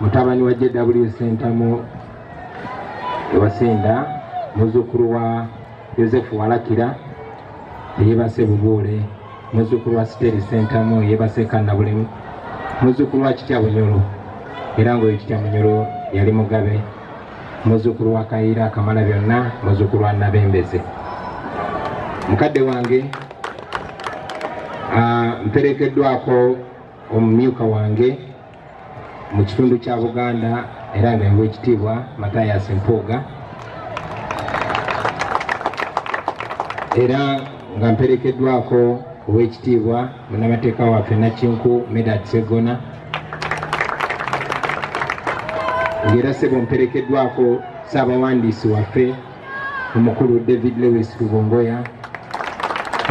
mutabani wa jw sentamu ewasinda muzukulu wa yosefu walakira eyebase bubuule muzukulu wa siteri sentamu eyebase kannabulemu muzukulu wa kitya bunyolo era ngaoyo kitya munyolo yali mugabe muzukulu wa kayiira akamala byonna muzukulu wa nabembeze mukadde wange ah, mperekeddwako omumyuka wange mu kitundu kya buganda era nga ewekitiibwa matayas mpuuga era nga mperekeddwako owekitiibwa munamateeka waffe nakinku medad segona ngaera sebo mperekeddwako saabawandiisi waffe omukulu david lewis lubongoya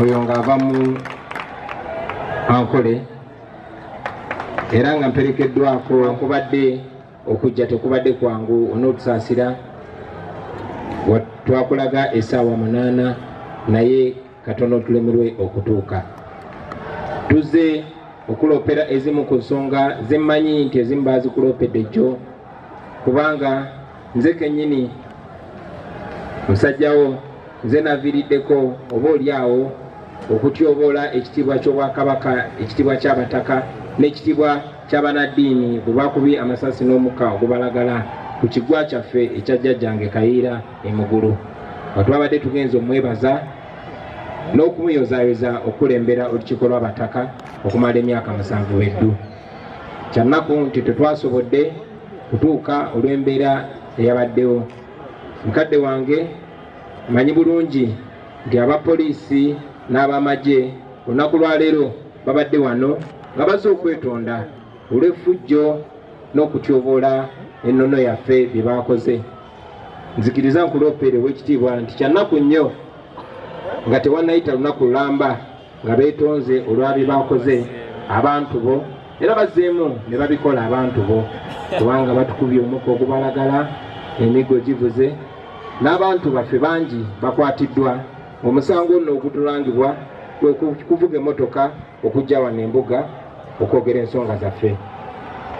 oyo ng'ava mu ankole era nga mperekeddwako nkubadde okujja tekubadde kwangu onootusaasira twakulaga esaawa munaana naye katono tulemerwe okutuuka tuze okuloopera ezimu ku nsonga zemmanyi nti ezimu baazikuloopedde jjo kubanga nze kenyini musajjawo nze naviiriddeko oba oli awo okutyoboola ekitiibwa ky'obwakabaka ekitiibwa ky'abataka n'ekitiibwa ky'abanaddiini bwe bakubi amasasi n'omukka ogubalagala ku kigwa kyaffe ekya jjajjange kayiira emugulu nga twabadde tugenza omwebaza n'okumuyozayoza okukulembera olukiiko lw'abataka okumala emyaka musanvu beddu kyannaku nti tetwasobodde kutuuka olw'embeera eyabaddewo mukadde wange manyi bulungi nti abapoliisi n'abamagye olunaku lwaleero babadde wano nga baze okwetonda olw'effujjo n'okutyoboola ennono yaffe bye baakoze nzikiriza nkuloopeere ow'ekitiibwa nti kyannaku nnyo nga tewannayita lunaku lulamba nga beetonze olwa bye bakoze abantu bo era bazzeemu ne babikola abantu bo kubanga batukubye omukka ogubalagala emiggo givuze n'abantu baffe bangi bakwatiddwa omusango ono ogutulangibwa kuvuga emotoka okujja wano embuga okwogera ensonga zaffe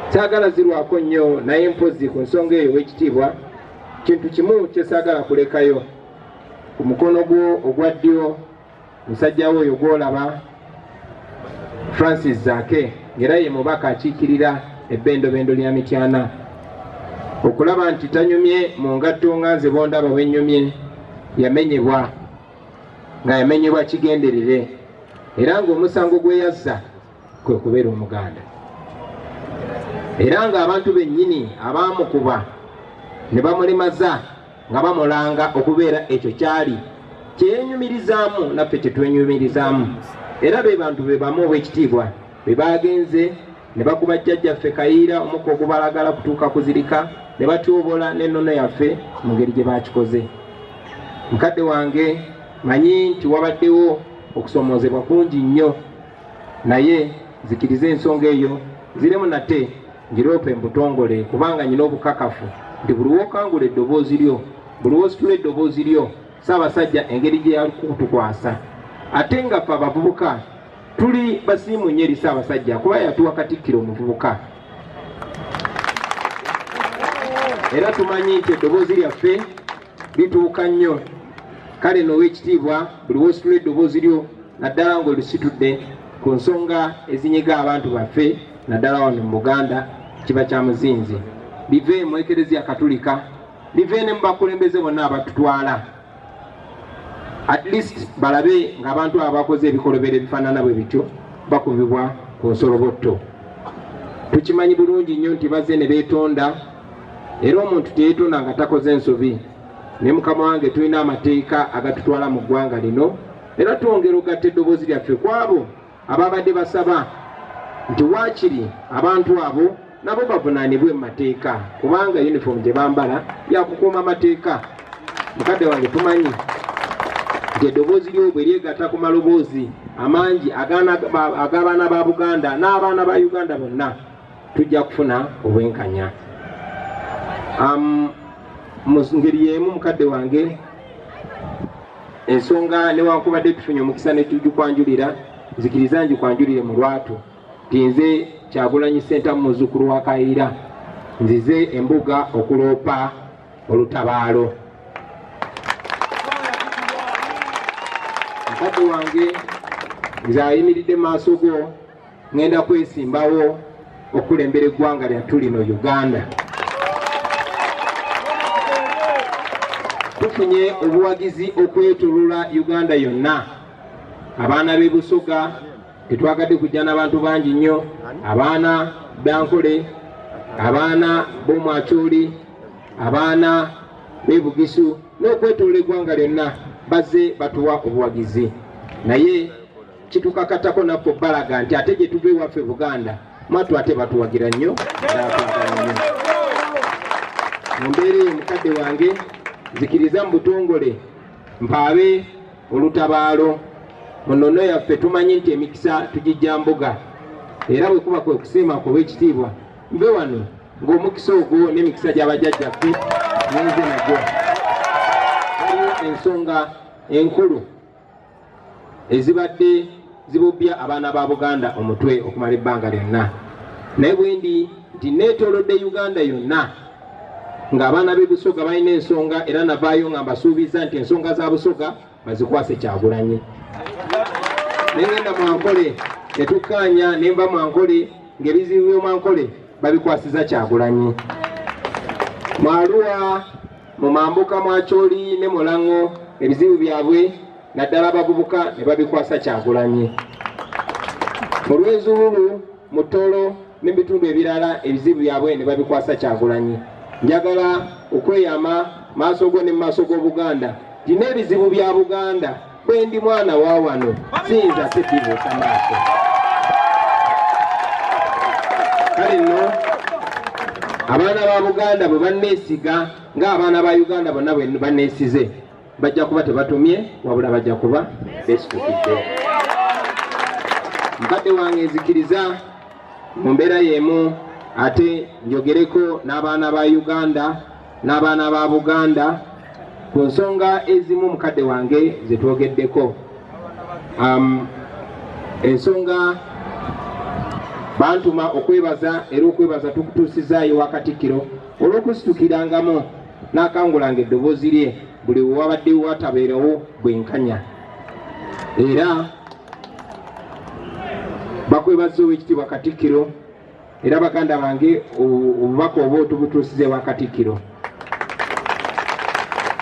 saagala zirwako nnyo naye mpozi ku nsonga eyo w'ekitiibwa kintu kimu kyesaagala kulekayo ku mukono gwo ogwa ddyo musajja we oyo gwolaba francis zake ngera ye mubaka akiikirira ebbendobendo lya mityana okulaba nti tanyumye mu ngatto nga nze bondaba bwenyumye yamenyebwa nga yamenyebwa kigenderere era ngaomusango gweyazza kwe kubeera omuganda era ng'abantu bennyini abaamukuba ne bamulemaza nga bamulanga okubeera ekyo kyali kyeyenyumirizaamu naffe kyetwenyumirizaamu era be bantu be bamu obwekitiibwa be baagenze ne bakuba jjajjaffe kayiira omukka ogubalagala kutuuka kuzirika ne batyobola n'ennono yaffe mu ngeri gye baakikoze mukadde wange manyi nti wabaddewo okusomoozebwa kungi nnyo naye zikiriza ensonga eyo ziremu nate Ngiroope mbutongole kubanga nyina obukakafu nti buli wokangula eddoboozi lyo buli wositula eddoboozi lyo Ssaabasajja engeri gye yakutukwasa ate nga ffe abavubuka tuli basiimu nnyo eri Ssaabasajja kuba yatuwa Katikkiro omuvubuka era tumanyi nti eddoboozi lyaffe lituuka nnyo kale noowa ekitiibwa buli wositula eddoboozi lyo naddala ng'olisitudde ku nsonga ezinyiga abantu baffe naddala wano mu buganda kiba kya muzinzi bive mu ekereziya katulika bive ne mu bakulembeze bonna abatutwala at least balabe ng'abantu abo bakoze ebikolobero ebifaanana bwe bityo bakubibwa ku nsolobotto tukimanyi bulungi nnyo nti bazze ne beetonda era omuntu teyeetonda nga takoze nsobi ne mukama wange tulina amateeka agatutwala mu ggwanga lino era twongera ogatta eddoboozi lyaffe kwabo Ababadde basaba nti waakiri abantu abo nabo bavunaanibwe mu mateeka kubanga yunifoomu gye bambala yakukuuma amateeka mukadde wange tumanyi nti eddoboozi lyobwe lyegata ku maloboozi amangi ag'abaana ba buganda n'abaana ba uganda bonna tujja kufuna obwenkanya mu ngeri y'emu mukadde wange ensonga newankubadde tufunye omukisa netugikwanjulira nzikiriza ngikwanjulire mu lwatu nti nze kyagulanyi sentamu muzukulu wa kayira nzize embuga okuloopa olutabaalo mukadde wange nze ayimiridde maaso go ŋŋenda kwesimbawo okulembera eggwanga lyattu lino uganda tufunye obuwagizi okwetulula uganda yonna abaana b'e busoga tetwagadde kujja n'abantu bangi nnyo abaana bankole abaana b'omwakyoli abaana b'e bugisu n'okwetulula eggwanga lyonna bazze batuwa obuwagizi naye kitukakatako naffe obbalaga nti ate gye tuva ewaffe buganda mwatu ate batuwagira nnyo mu mbeera eyo mukadde wange nzikiriza mu butongole mpaabe olutabaalo mu nnono yaffe tumanyi nti emikisa tugijja mbuga era bwe kuba kwe kusiima kuba ekitiibwa nve wano ng'omukisa ogwo n'emikisa gy'abajajjaffe ninze nagyo waliwo ensonga enkulu ezibadde zibubbya abaana ba buganda omutwe okumala ebbanga lyonna naye bwendi nti neetolodde uganda yonna ng'abaana b'e busoga balina ensonga era navaayo nga mbasuubiza nti ensonga za busoga bazikwase kyagulanyi nengenda mwankole netukkaanya nemba mwankole ng'ebizibu by'omwankole babikwasiza kyagulanyi mwaluwa mu mambuka mwa Kyoli ne Mulang'o ebizibu byabwe naddala abavubuka ne babikwasa Kyagulanyi. Mu Lwezululu, mu Toro ne bitundu ebirala ebizibu byabwe ne babikwasa Kyagulanyi. Njagala okweyama maaso go ne mu maaso g'Obuganda nti n'ebizibu bya Buganda bwe ndi mwana wa wano siyinza sidibuusa maaso kale nno abaana ba buganda bwe banneesiga ng'abaana ba uganda bonna bwe banneesize bajja kuba tebatumye wabula bajja kuba beesitukidde mukadde wange nzikiriza mu mbeera y'emu ate njogereko n'abaana ba uganda n'abaana ba buganda ku nsonga ezimu mukadde wange zetwogeddeko um, ensonga bantuma okwebaza era okwebaza tukutuusizaayo wakatikkiro olw'okusitukirangamu n'akangulanga eddoboozi lye buli wewabadde watabeerawo bwenkanya era bakwebaza ow'ekitiibwa katikkiro era baganda bange obubaka oba otubutuusiza ewa katikkiro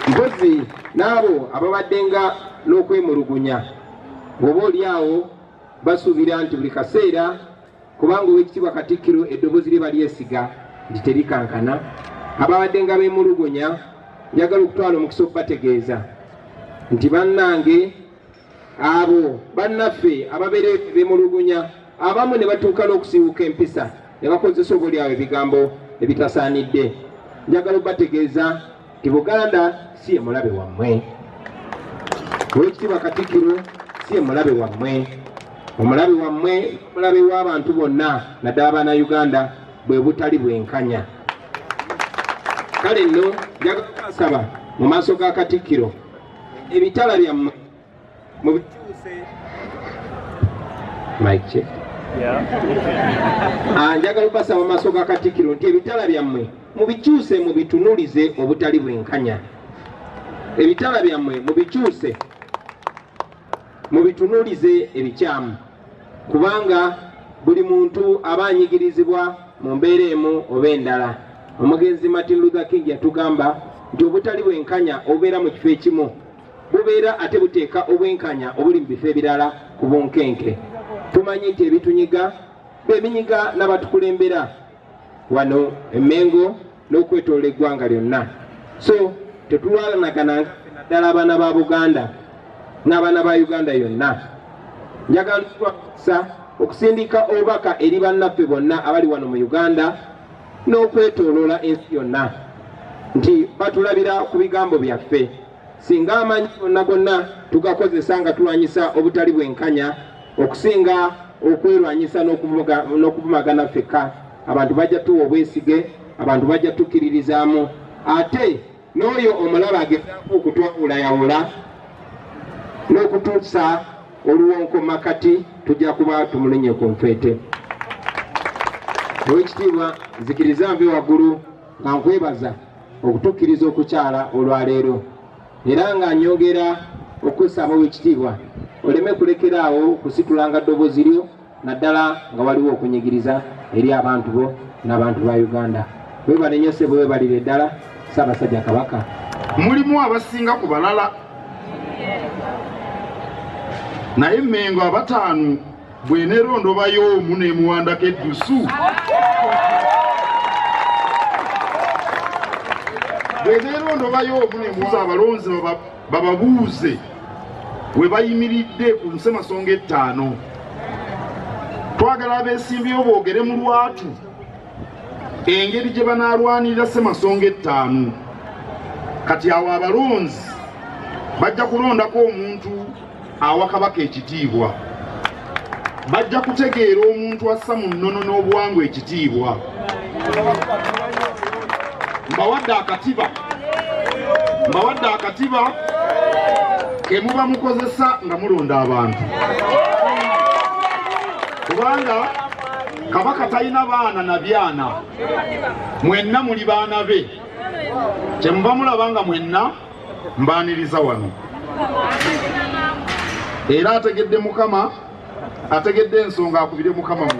mpozi n'abo ababaddenga n'okwemulugunya oba oli awo basuubira nti buli kaseera kubanga owekitiibwa katikkiro eddoboozi lye balyesiga nti terikankana ababaddenga bemulugunya njagala okutwala omukisa okubategeeza nti bannange Abo bannaffe ababeera bemulugunya abamu ne batuuka n'okusiiwuka empisa ne bakozesa oboolyawo ebigambo ebitasaanidde. Njagala obategeeza nti Buganda si ye mulabe wammwe. Oweekitiibwa Katikkiro si ye mulabe wammwe. Omulabe wammwe mulabe w'abantu bonna naddala abaana Uganda bwe butali bwenkanya. Kale nno njagala kubasaba mu maaso ga Katikkiro ebitala byammwe mubikyuse mike ah, njagala okubasa mu maaso ga katikiro nti ebitala byammwe mubikyuse mubitunulize obutali bwenkanya ebitala byammwe mubikyuse mubitunulize ebikyamu kubanga buli muntu aba anyigirizibwa mu mbeera emu oba endala omugenzi martin luther king yatugamba nti obutali bwenkanya obubeera mu kifo ekimu bubeera ate buteeka obwenkanya obuli mu bifo ebirala ku bunkenke tumanyi nti ebitunyiga bebinyiga n'abatukulembera wano emengo n'okwetolola eggwanga lyonna so tetulwalanagana naddala abaana ba buganda n'abaana ba uganda yonna njagala okusa okusindika obubaka eri bannaffe bonna abali wano mu uganda n'okwetoloola ensi yonna nti batulabira ku bigambo byaffe Singa amanyi gonna gonna tugakozesa nga tulwanyisa obutali bwenkanya okusinga okwerwanyisa n'okuvumagana fekka, abantu bajja tuwa obwesige, abantu bajja tukkiririzaamu ate n'oyo omulaba agezaako okutwawulayawula n'okutuusa oluwonko makati tujja kuba tumulonye ku nfeete owekitiibwa nzikiriza nve waggulu nga nkwebaza okutukkiriza okukyala olwaleero era nga nyongera okussaamu wekitiibwa oleme kulekera awo kusitulanga ddobozi lyo naddala nga waliwo okunyigiriza eri abantu bo n'abantu ba uganda webanenyose bwe webalire ddala ssaabasajja kabaka mulimu abasinga ku balala naye mengo abataano bwenerondobayo omu nemuwandako eddusu bwenerondobayo omu nemuza abalonzi bababuuze we bayimiridde ku nsemasonga ettaano twagala abeesimbyewo boogere mu lwatu engeri gye banaalwanirira semasonga ettaano kati awo abalonzi bajja kulondako omuntu awa kabaka ekitiibwa bajja kutegeera omuntu assa mu nnono n'obuwangwa ekitiibwa mbawadde akatiba mbawadde akatiba ke muba mukozesa nga mulonda abantu kubanga kabaka talina baana na byana mwenna muli baana be kyemuba mulaba nga mwenna mbaaniriza wano era ategedde mukama ategedde ensonga akubire mukama mu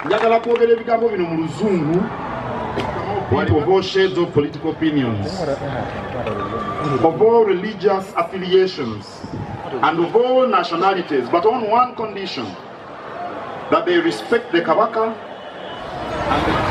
njagala kwogera ebigambo bino mu luzungu What of all shades of political opinions, of all religious affiliations, and of all nationalities, but on one condition. that they respect the Kabaka and the